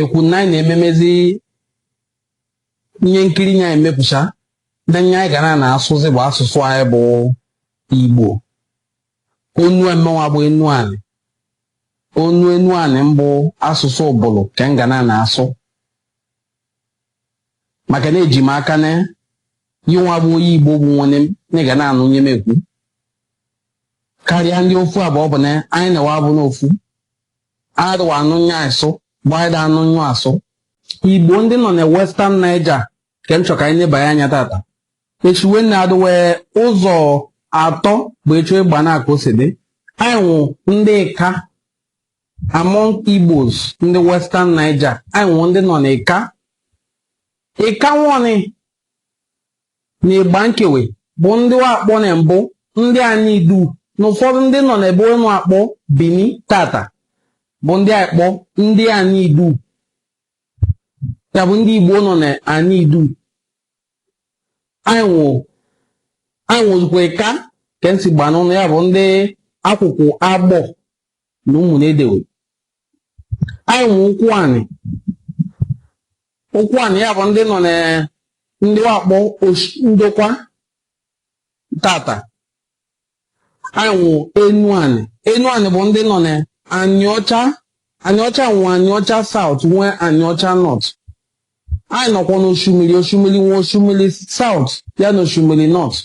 ekwu na anyị na-ememezi ihe nkiri anyị emepụcha na ihe anyị ga na-asụzi bụ asụsụ anyị bụ Igbo onu emenwa bụ Enuanị onu Enuanị mbụ asụsụ Ubulu ka m ga na-asụ maka na eji m aka na yinwa bụ onye Igbo bụ nwanne m na ga na-anụ nye m ekwu karịa ndị ofu abụ ọ bụ na anyị na wa bụ n'ofu Adị wa anụ nyọ asụ, bụ anyị da anụ nyọ asụ. Igbo ndị nọ na Western Niger ka m chọ ka anyị nebanye anya tata. Echiwe na adị we ụzọ atọ bụ echu ịgba na aka ose dị. Anyị nwụ ndị Ịka among Igbos ndị Western Niger, anyị nwụ ndị nọ na Ịka. Ịka nwọnị N'ịgba nke we bụ ndị wa akpọ na mbụ, ndị Anidu, na ụfọdụ ndị nọ n'ebe unu akpọ Bini tata, bụ ndị akpọ ndị Anidu, ya bụ ndị Igbo nọ na Anidu. Anyị nwụ anyị nwụzikwa Ịka ka m si gwanị ụnụ ya bụ ndị akwụkwụ Agbọ na Ụmụnede we anyị nwe Ụkwụanị Ụkwụanị ya bụ ndị nọ na ndị wa akpọ Ndokwa tata anyị nwụ Enuanị Enuanị bụ ndị nọ na Anịọcha Anịọcha nwe Anịọcha South nwee Anịọcha North anyị nọkwa n'Oshimiri Oshimiri nwe Oshimiri South ya na Oshimiri North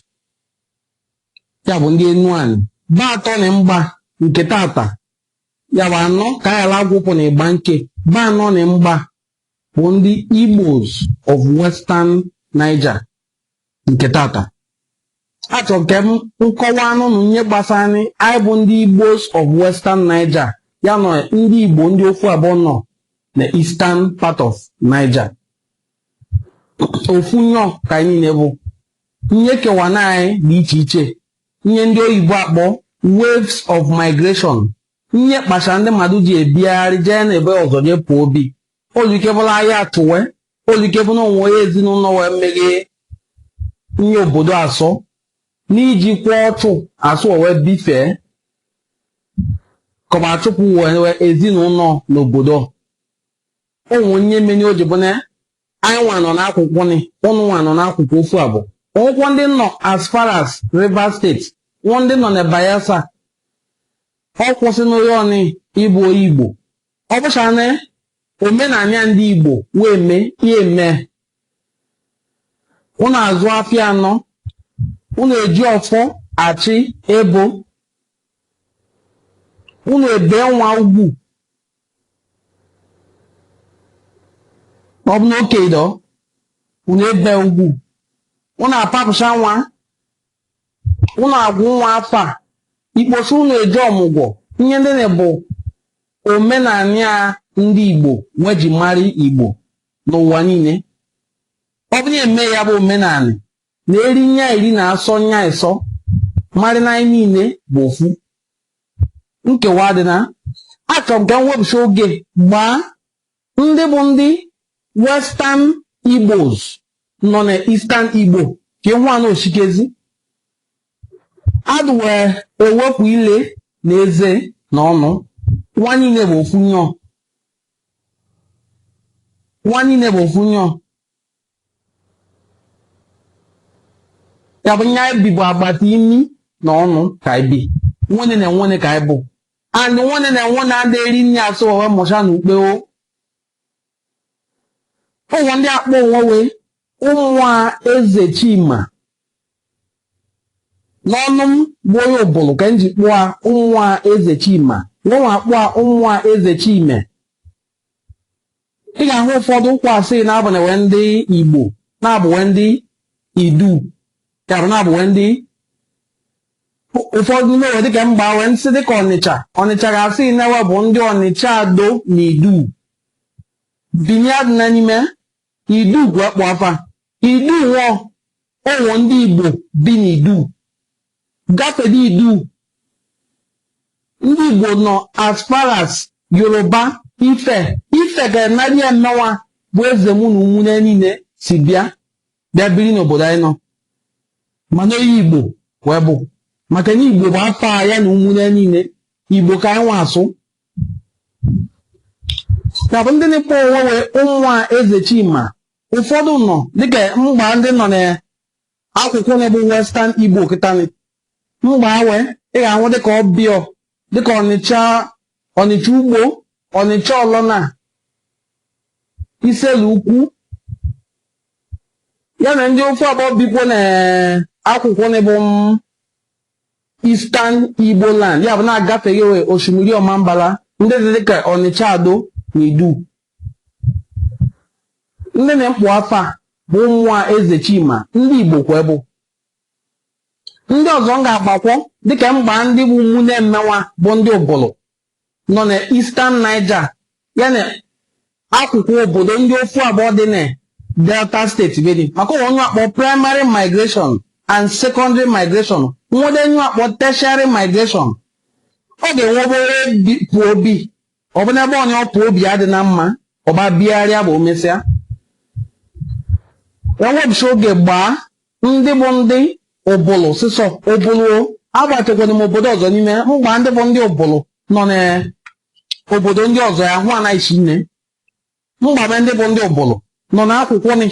ya bụ ndị Enuanị ba atọ na mgba nke tata ya bụ anọ ka anyị ala agwụpụ na ịgba nke ba anọ na mgba bụ ndị igbos of western niger nke tata achọ ka m kọwanị ụnụ nye gbasa anyị anyị bụ ndị igbos of western niger ya na ndị igbo ndị ofu abụ nọ na eastern part of niger ofu nyọ ka anyị niile bụ Ihe kewana anyị dị iche iche ihe ndị oyibo akpọ waves of migration ihe kpacha ndị mmadụ ji ebigharị jee n'ebe ọzọ jee pụọ obi o nwe ike bụ na aya achụ we o nwe ike bụ na o nwe nye ezinụnọ we mmeghe ihe obodo asọ n'iji kwụọ ọchụ achụ we bifee ka ọ bụ achụpụ wee ezinụnọ n'obodo o nwe nye meni o ji bụ na anyị nwa nọ n'akwụkwụ nị ụnụ nwa nọ n'akwụkwụ ofu abụ nwụkwọ ndị nọ as far as Rivers State nwụ ndị nọ na Bayelsa ọ kwụsị nọ yị n'ịbụ onye Igbo ọ bụcha na omenanị ndị Igbo wee mee ya eme ụnụ azụ afịa anọ ụnụ eji ọfọ achị ebo ụnụ ebe nwa ugwu ọ bụ n'okei dọ unu ebe ugwu unu apapụcha nwa unu agụ nwa afa igbo si unu eje ọmụgwọ ihe ndị na bụ omenanị a ndị igbo wee ji mara igbo n'ụwa niile ọ bụ na eme ya bụ omenanị na eri nya iri na asọ nya ịsọ mara na anyị niile bụ ofu nkewa adịna achọrọ m ka m wepụsị oge gbaa ndị bụ ndị western igbos nọ na eastern igbo ka ịhụ anụ osikezi adụwe ewepụ ile na eze na ọnụ wa niile bụ ofu nyọọ wa niile bụ ofu nyọọ ya bụ nya bi bụ agbata imi na ọnụ ka anyị bi nwenne na nwenne ka anyị bụ and nwenne na nwenne adị eri nri asụ ọwa mụcha na ukpe o ụmụ ndị akpọ onwe we ụmụa eze chima n'ọnụ m bụ onye ụbụlụ ka m ji kpọọ ụmụa eze chima wenwa akpọọ ụmụa eze chime ị ga-ahụ ụfọdụ kwa asịrị na abụghị we ndị Igbo na abụ we ndị Idu ya bụ na abụ we ndị ụfọdụ n'ime we dịka m gbaa we nsị dịka Ọnịcha Ọnịcha ga-asị na we bụ ndị Ọnịcha Ado na Idu Bini adịna n'ime Idu wa akpọ afa Idu nwọ o nwọ ndị Igbo bi n'Idu gafede Idu ndị Igbo nọ as far as Yoruba Ife Ife ka narị mmenwa bụ Ezemu na ụmụnne niile si bịa bịa biri n'obodo anyị nọ mana onye Igbo we bụ maka na Igbo bụ afa ya na ụmụnne niile Igbo ka anyị nwa asụ ya bụ ndị na-ekpọ onwe we ụmụa eze chima ụfọdụ nọ dịka m gbaa ndị nọ na akụkụ nị bụ western igbo kịtanị m gbaa we ị ga-ahụ dịka ọbịọ dịka ọnịcha ọnịcha ugbo ọnịcha ọlọna isele ukwu ya na ndị ofe abụọ bikwọ na akụkụ nị bụ m Eastern Igbo Land ya bụ na-agafeghị osimiri Ọmambala ndị dị dịka Ọnịcha Ado na Idu ndị na-ekpọ afa bụ ụmụa eze Chima ndị Igbo ka we bụ ndị ọzọ m ga-agbakwọ dịka m gbaa ndị bụ ụmụnne mmenwa bụ ndị ụbụlụ nọ na Eastern Niger ya na akụkụ obodo ndị ofu abụọ dị na Delta steeti bedi maka e nwe ihe akpọ primary migration and secondary migration nwede ihe akpọ tertiary migration ọ ga-enwe ebe onye bi pụọ obi ọ bụ n'ebe onye ọ pụọ obi adị na mma ọba bigharịa bụ omesịa enwebisi oge gbaa Ndị bụ ndị Ubulu sọsọ Ubulu o agbatekwana m obodo ọzọ n'ime ya m gbaa ndị bụ ndị Ubulu nọ n'obodo ndị ọzọ ya hụ anaghị chi nne m gbame ndị bụ ndị Ubulu nọ n'akụkụ nị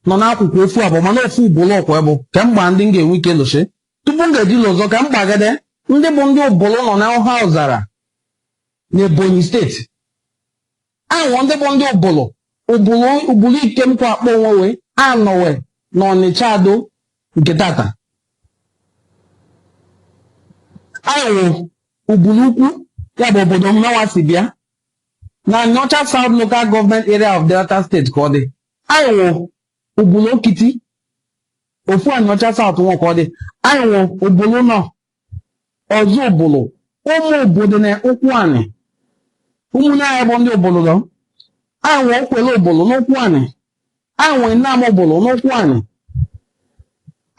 nọ n'akụkụ ofu abụọ mana ofu Ubulu ọkwa bụ ka m gbaa ndị m ga-enwe ike lụsị tupu m ga-eji lọzọ ka m gbagide ndị bụ ndị Ubulu nọ na Ọhaọzara n'Ebonyi steeti Anyị nwe ndị bụ ndị Ubulu Ubulu Ikem ka wa akpọ onwe we anọwe na Ọnịcha Ado nke tata anyị nwe Ubulu Ukwu ya bụ obodo mụ nwa si bịa n'Aniocha South Local Government Area of Delta State ka ọ dị anyị nwe Ubulu Okiti ofu Aniocha South nwa ka ọ dị anyị nwe Ubulu Ụnọ ọzọ Ubulu ụmụ obodo dị n'Ụkwụanị ụmụnne anyị bụ ndị Ubulu nọ anyị nwe Okwele Ubulu n'Ụkwụanị anyị nwe Inam Ubulu n'Ụkwụanị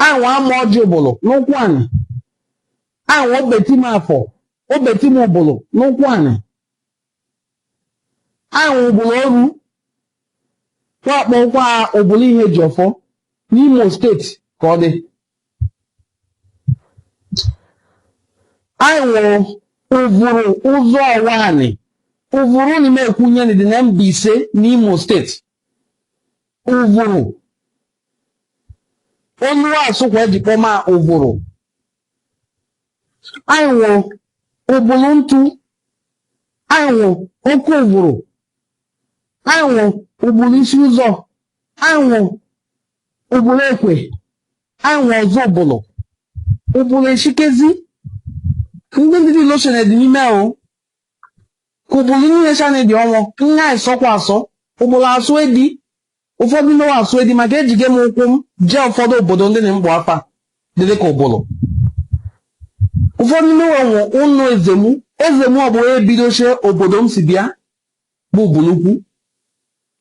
anyị nwe Amaọjị Ubulu n'Ụkwụanị anyị nwe Obetim Afọ Obetim Ubulu n'Ụkwụanị anyị nwe Ubulu Oru wa kpọkwa Ubulu Ihejiọfọ n'Imo steeti ka ọ dị anyị nwe Uvuru Ụzọ Ụwanị Uvuru n'ime ekwunye dị na Mbaise n'Imo steeti Uvuru onu wa asụ ka wa eji kpọma Uvuru anyị nwụrụ ụbụrụ ntụ anyị nwụrụ oke ụbụrụ anyị nwụrụ ụbụrụ isi ụzọ anyị nwụrụ ụbụrụ ekwe anyị nwụrụ ọzọ ụbụrụ ụbụrụ eshikezi ndị ndị niile ochene dị n'ime ahụ ka ụbụrụ niile chana dị ọnwụ nna anyị sọkwa asọ ụbụrụ asụ edi Ụfọdụ ndị nwa asọ edi maka ejige m ụkwụ m jee ụfọdụ obodo ndị na m kpọ afa dị ka Ubulu. Ụfọdụ ndị nwenwu ụnọ Ezemu Ezemu ọ bụ onye bidochie obodo m si bịa bụ Ubulu Ukwu.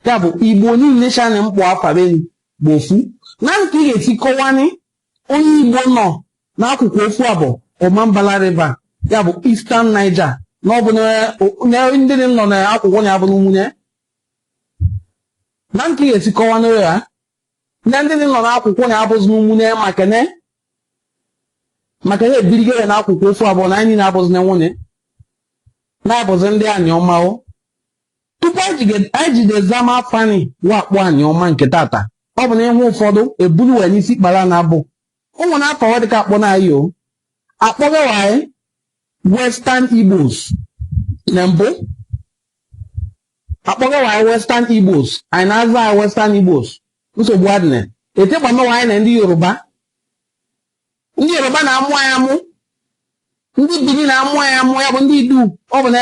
Ya bụ Igbo niile cha na m kpọ afa beni bụ ofu. Naanị ka ị ga-esi kọwanị onye Igbo nọ n'akụkụ ofu abụọ Omambala River ya bụ Eastern Niger na ọ bụ na na ndị nọ n'akụkụ na ya bụ ụmụnne na nke ya esi kọwanụrụ ya na ndị nọ n'akwụkwọ ya abụzi ụmụnne maka na maka na ebirigo ya n'akwụkwọ ofu abụọ na anyị na-abụzi ụmụnne na-abụzi ndị Anioma o tupu anyị jide- anyị jide zama afa nị wa akpọ Anioma nke tata ọ bụ na ịhụ ụfọdụ ebulu wee n'isi kpara na abụ ụmụnne afa wa dịka akpọ na anyị o akpọga wa anyị Western Igbos na mbụ akpọga wa anyị Western Igbos anyị na-aza anyị Western Igbos nsogbu adịna etekpama wa anyị na ndị Yoruba ndị Yoruba na-amụ anyị amụ ndị Bini na-amụ anyị amụ ya bụ ndị Idu ọ bụ na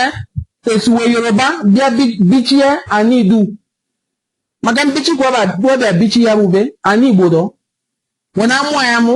esi wa Yoruba bịa bi- bichie ani Idu maka mbichi ka wa bịa bichi ya rube ani Igbo dọ wa na-amụ anyị amụ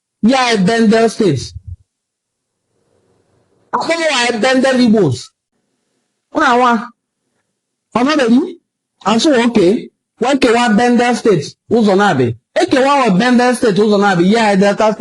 Ya e Bendel steeti. Akpọrọ wa Bendel Igbos. Ọ na-awa. Ọ nọbeghị. Asị okay. Wa kewa Bendel steeti ụzọ naabị. Ekewa wa Bendel steeti ụzọ naabị ya Delta steeti.